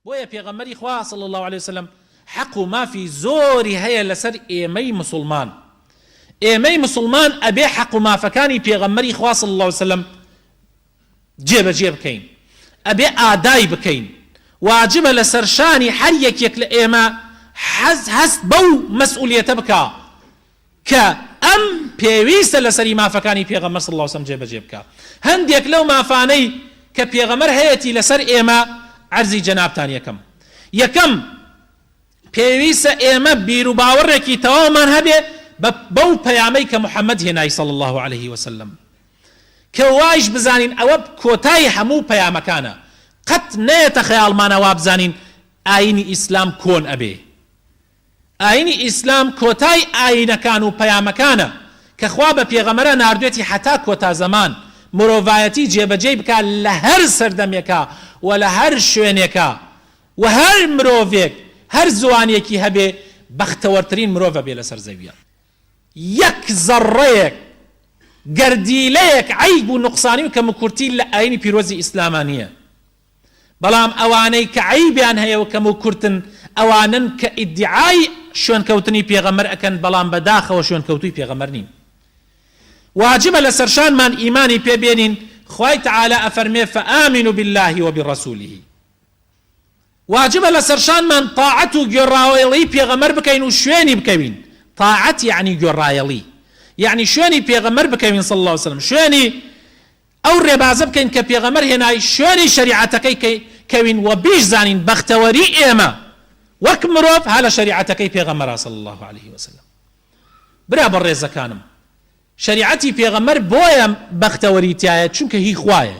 بۆیە پێغەمبەری خوا، صلی اللە علیە وسلم، حەق و مافی زۆری هەیە لەسەر ئێمەی موسڵمان. ئێمەی موسڵمان ئەبێ حەق و مافەکانی پێغەمبەری خوا، صلی اللە علیە وسلم، جێبەجێ بکەین، ئەبێ ئادای بکەین. واجبە لەسەرشانی هەر یەکێک لە ئێمە هەست بەو مەسئولیەتە بکا. کە ئەم پێویستە لەسەری مافەکانی پێغەمبەر صلی اللە علیە و سەلەم جێبەجێ بکا هەندێک لەو مافانەی کە پێغەمبەر هەیەتی لەسەر ئێمە عەرزی جەنابتان یەکەم یەکەم پێویستە ئێمە بیروباوەڕێکی تەواومان هەبێ بەو پەیامەی کە محەممەد هێنای صلی اللە علیه وسلم کە وایش بزانین ئەوە کۆتایی هەموو پەیامەکانە قەت نەیەتە خەیاڵمانە وابزانین ئاینی ئیسلام کۆن ئەبێ ئاینی ئیسلام کۆتای ئاینەکان و پەیامەکانە کە خوا بە پێغەمەرە ناردوێتی هەتا کۆتا زەمان مرۆڤایەتی جێ بەجێی بکا لە هەر سەردەمێکا و لە هەر شوێنێکا و هەر مرۆڤێک هەر زوانێکی هەبێ بەختەوەرترین مرۆڤ ئەبێ لەسەر زەویا یەک زەڕڕەیەک گەردیلەیەک عەیب و نوقسانی و کەموکورتی لە ئاینی پیرۆزی ئیسلاما نیە بەڵام ئەوانەی کە عەیبیان هەیە و کەمو کورتن ئەوانەن کە ئیدیعای شوێنکەوتنی پێغەمبەر ئەکەن بەڵام بە داخەوە شوێنکەوتووی پێغەمبەر نین واجبە لەسەرشانمان ئیمانی پێ بێنین خوای تعالی ئەفەرمێ فآمنوا بالله وبرسوله واجبە لەسەرشانمان طاعەت و گوێڕایەڵی پێغەمبەر بکەین و شوێنی بکەوین طاعەت یعنی گوێڕایەڵی یعنی شوێنی پێغەمبەر بکەوین صلی الله عليه وسلم شوێنی ئەو ڕێبازە بکەین کە پێغەمبەر هێنای شوێنی شەریعەتەکەی کە کەوین وە بیشزانین بەختەوەری ئێمە وەک مرۆڤ ها لە شەریعەتەکەی پێغەمبەرە صلی اللە علیە وسلم برا بەڕێزەکانم شەریعەتی پێغەمبەر بۆیە بەختەوەری تایە چونکە هی خوایە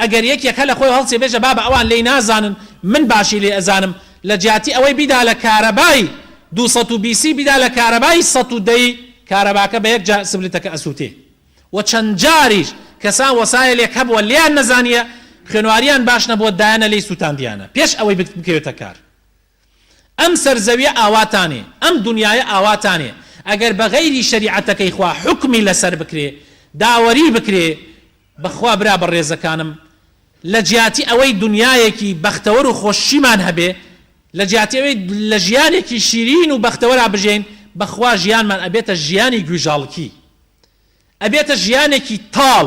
ئەگەر یەکێک هەلە خۆی هەڵچێ بێژە بابە ئەوان لێی نازانن من باشی لێ ئەزانم لە جیاتی ئەوەی بیدا لە کارەبای دوو سەد و بیسی بیدا لە کارەبای سەد و دەی کارەباکە بە یەک جار سبلتەکە ئەسوتێ و چەند جاریش کەسان وەسایە لێک هەبوە لێیان نەزانیە خوێنواریان باش نەبوە دایانە لێی سوتاندیانە پێش ئەوەی بکەوێتە کار ئەم سەرزەویە ئاواتانێ ئەم دونیایە ئاواتانێ ئەگەر بەغەیری شەریعەتەکەی خوا حوکمی لەسەر بکرێ داوەری بکرێ بەخوا برا بەڕێزەکانم لەجیاتی ئەوەی دونیایەکی بەختەوەر و خۆشیمان هەبێ لەجیاتی ئەوەی لەژیانێکی شیرین و بەختەوەرا بژێین بەخوا ژیانمان ئەبێتە ژیانی گویژاڵکی ئەبێتە ژیانێکی تاڵ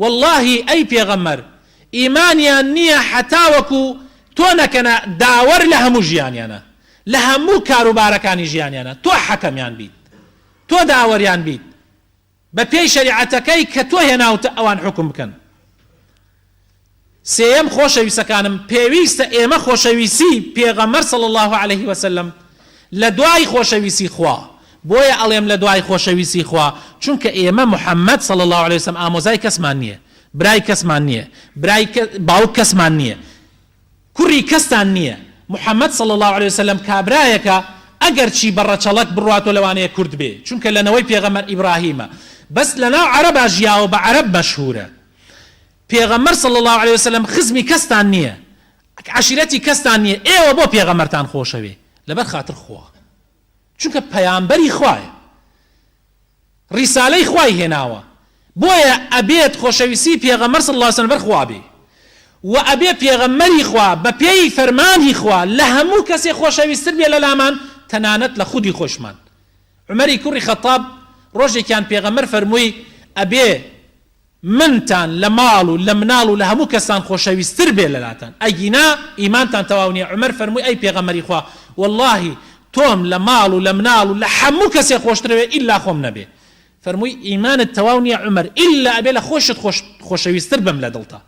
وەڵاهی ئەی پێغەمبەر ئیمانیان نیە هەتاوەکو تۆ نەکەنە داوەر لە هەموو ژیانیانە لە هەموو کاروبارەکانی ژیانیانە تۆ حەکەمیان بیت تۆ داوەریان بیت بە پێی شەریعەتەکەی کە تۆ هێناوتە ئەوان حوکم بکەن سێیەم، خۆشەویستەکانم، پێویستە ئێمە خۆشەویستی پێغەمبەر صلی اللە علیە وسلم لە دوای خۆشەویستی خوا، بۆیە ئەڵێم لە دوای خۆشەویستی خوا، چونکە ئێمە محمد صلی اللە علیە وسلم ئامۆزای کەسمان نیە، برای کەسمان نیە، برای باوک کەسمان نیە، کوڕی کەستان نیە، محمد صلی اللە علیە وسلم کابرایەکە ئەگەر چی بە ڕەچەڵەک بڕوات و لەوانەیە کورد بێ، چونکە لە نەوەی پێغەمبەر ئیبراهیمە، بەس لەناو عەرەبا ژیاوە بە عەرەب مەشهورە. پێغەمبەر صلی اللە علیە وسلم خزمی کەستان نیە عەشیرەتی کەستان نیە ئێوە بۆ پێغەمبەرتان خۆشەوێ لەبەر خاتر خوا چونکە پەیامبەری خوایە ریسالەی خوای هێناوە بۆیە ئەبێت خۆشەویستی پێغەمبەر صلی اللە علیە وسلم لەبەر خوا بێ و ئەبێ پێغەمبەری خوا بەپێی فەرمانی خوا لە هەموو کەسێ خۆشەویستر بێ لەلامان تەنانەت لە خودی خۆشمان عومەری کوڕی خەتاب ڕۆژێکیان پێغەمبەر فەرمووی ئەبێ منتان لە ماڵ و لە مناڵ و لە هەموو کەستان خۆشەویستر بێ لەلاتان ئەگینا ئیمانتان تەواو نیە عومەر فەرمووی ئەی پێغەمبەری خوا وەڵاهی تۆم لە ماڵ و لە مناڵ و لە هەموو کەسێ خۆشترەوێ ئیلا خۆم نەبێ فەرمووی ئیمانت تەواو نیە عومەر ئیلا ئەبێ لە خۆشت خۆش خۆشەویستر بم لە دڵتا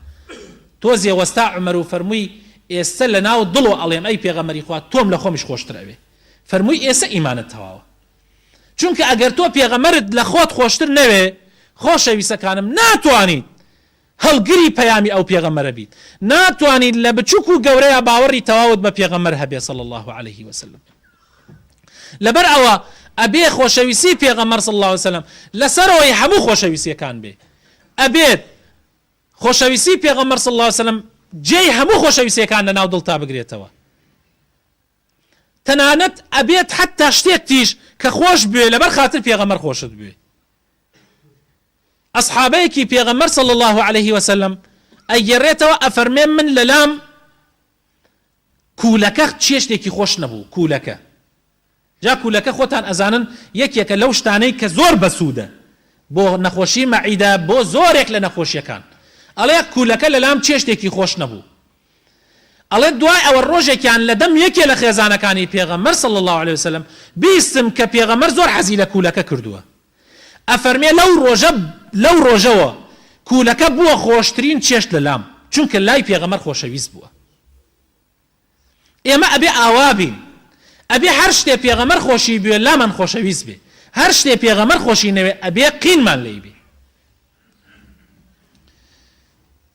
تۆزێ وەستا عومەر و فەرمووی ئێستە لە ناو دڵۆ ئەڵێم ئەی پێغەمبەری خوا تۆم لە خۆمیش خۆشتر ئەوێ فەرمووی ئێسە ئیمانت تەواوە چونکە ئەگەر تۆ پێغەمبەرت لە خۆت خۆشتر نەوێ خۆشەویسەکانم ناتوانیت هەڵگری پەیامی ئەو پێغەمبەرە بیت ناتوانیت لە بچوک و گەورەیا باوەڕی تەواوت بە پێغەمبەر هەبێ صلی اللە علیه وسلم لەبەر ئەوە ئەبێ خۆشەویستی پێغەمبەر صلی اللە وسلم لەسەرەوەی هەموو خۆشەویستیەکان بێ ئەبێت خۆشەویستی پێغەمبەر صلی اللە وسلم جێی هەموو خۆشەویستیەکان لە ناو دڵتا بگرێتەوە تەنانەت ئەبێت حەتتا شتێکتیش کە خۆش بوێ لەبەر خاتر پێغەمبەر خۆشت بوێ ئەسحابەیەکی پێغەمبەر صلی اللە علیه وسلم ئەگەرێتەوە ئەفەرمێ من لەلام کوولەکە چێشتێکی خۆش نەبوو کوولەکە جا کوولەکە خۆتان ئەزانن یەکێکە لەو شتانەی کە زۆر بەسوودە بۆ نەخۆشی مەعیدە بۆ زۆرێک لە نەخۆشیەکان ئەڵێ کوولەکە لەلام چێشتێکی خۆش نەبوو ئەڵێت دوای ئەوە ڕۆژێکیان لە دەم یەکێ لە خێزانەکانی پێغەمبەر صلی اللە علیە وسلم بیستم کە پێغەمبەر زۆر حەزی لە کوولەکە کردووە ئەفەرمێ لەو ڕۆژە لەو ڕۆژەوە کوولەکە بووە خۆشترین چێشت لە لام چونکە لای پێغەمبەر خۆشەویست بووە ئێمە ئەبێ ئاوا بین ئەبێ هەر شتێ پێغەمبەر خۆشی بوێ لامان خۆشەویست بێ هەر شتێ پێغەمبەر خۆشی نەوێ ئەبێ قینمان لێی بێ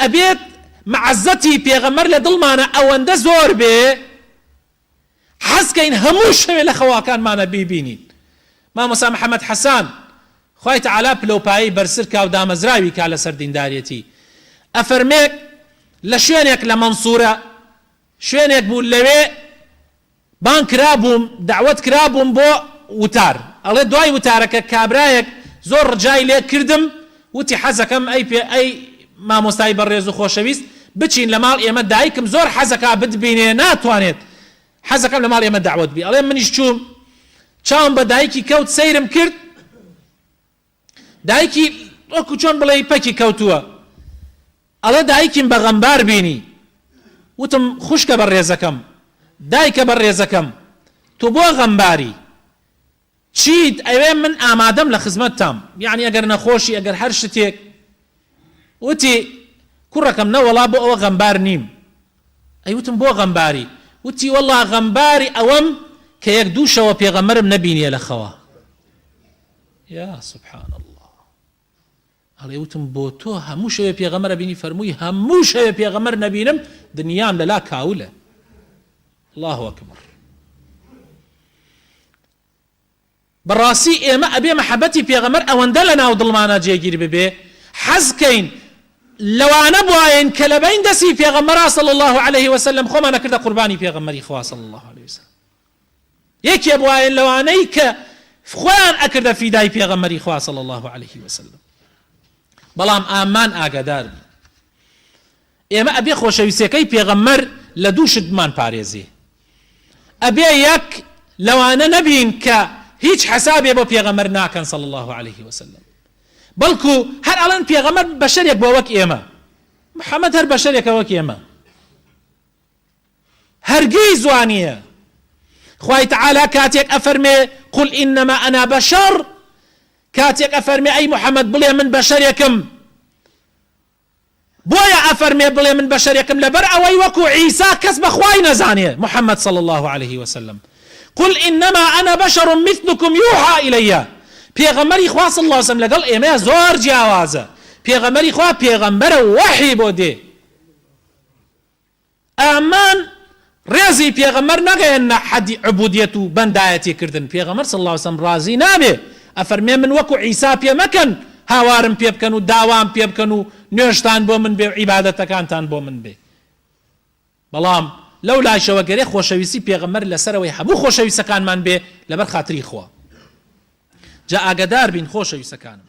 ئەبێت مەعەزەتی پێغەمبەر لە دڵمانا ئەوەندە زۆر بێ حەز کەین هەموو شەوێ لە خەواکانمانا بیبینین مامۆسا محمد حسان خوای تعالی پلەو پایەی بەرسر کا و دامەزراوی کا لەسەر دینداریەتی ئەفەرمێ لە شوێنێک لە مەنسورە شوێنێک بوو لەوێ بانگ کرابووم دەعوەت کرابووم بۆ وتار ئەڵێ دوای وتارەکە کابرایەک زۆر ڕجای لێ کردم وتی حەزەکەم ئەی پێ ئەی مامۆستای بەڕێزو خۆشەویست بچین لە ماڵ ئێمە دایکم زۆر حەزەکا بتبینێ ناتوانێت حەزەکەم لە ماڵ ئێمە دەعوەت بی ئەڵێ منیش چووم چاوم بە دایکی کەوت سەیرم کرد دایکی وەکو چۆن بڵێی پەکی کەوتووە ئەڵێ دایکیم بە غەمبار بینی وتم خوشکە بە ڕێزەکەم دایکە بە ڕێزەکەم تو بۆ غەمباری چیت ئەوێ من ئامادەم لە خزمەت تام یعنی ئەگەر نەخۆشی ئەگەر هەر شتێک وتی کوڕەکەم نەوەڵا بۆ ئەوە غەمبار نیم ئەی وتم بۆ غەمباری وتی وەڵا غەمباری ئەوەم کە یەک دووشەوە پێغەمەرم نەبینیە لە خەوە یا سبحان اللە ئەڵێ وتم بۆ تۆ هەموو شەوێ پێغەمبەر ئەبینی فەرمووی هەموو شەوێ پێغەمبەر نەبینم دنیام لەلا کاولە الله اکبر بەڕاستی ئێمە ئەبێ مەحەبەتی پێغەمەر ئەوەندە لە ناو دڵمانە جێگیر ببێ حەزکەین لەوانە بواین کە لەبین دەسی پێغەمەرا صلی الله عليه وسلم خۆمان نەکردە قوربانی پێغەمەری خوا صلی الله عليه وسلم یەکێ بوایە لەوانەی کە خۆیان ئەکردە فیدای پێغەمبەری خوا صلی اللە علیه وسلم بەڵام ئامان ئاگادار بی ئێمە ئەبێ خۆشەویستەکەی پێغەمبەر لە دوو شتمان پارێزێ ئەبێ یەک لەوانە نەبین کە هیچ حسابێ بۆ پێغەمبەر ناکەن صلی الله عليه وسلم بەڵکو هەر ئەڵەن پێغەمبەر بەشەرێک بۆ وەک ئێمە محەممەد هەر بەشەرێکە وەک ئێمە هەرگیز وا نییە خوای تەعالا کاتێک ئەفەرمێ قل انما انا بشر کاتێک ئەفەرمێ ئەی محەممەد بڵێ من بەشەرێکم بۆیە ئەفەرمێ بڵێ من بەشەرێکم لەبەر ئەوەی وەکو عیسا کەس بەخوای نەزانێ محەممەد صلی الله عليه وسلم قل انما انا بشر مثلكم يوحى الي پێغەمەری خوا صلی الله وسلم لەگەڵ ئێمە زۆر جیاوازە پێغەمەری خوا پێغەمبەرە وەحی بۆ دێ ئەمان ڕێزی پێغەمبەر نەگەیەننە حەدی عبودیەت و بەندایەتی کردن پێغەمبەر صلی اللە علیە وسلم ڕازی نابێ ئەفەرمێ من وەکو عیسا پێ مەکەن هاوارم پێ بکەن و داوام پێ بکەن و نوێژتان بۆ من بێ و عیبادەتەکانتان بۆ من بێ بەڵام لەو لاشەوە گەرێ خۆشەویستی پێغەمبەر لەسەرەوەی هەموو خۆشەویستەکانمان بێ لەبەر خاتری خوا جا ئاگەدار بین خۆشەویستەکانم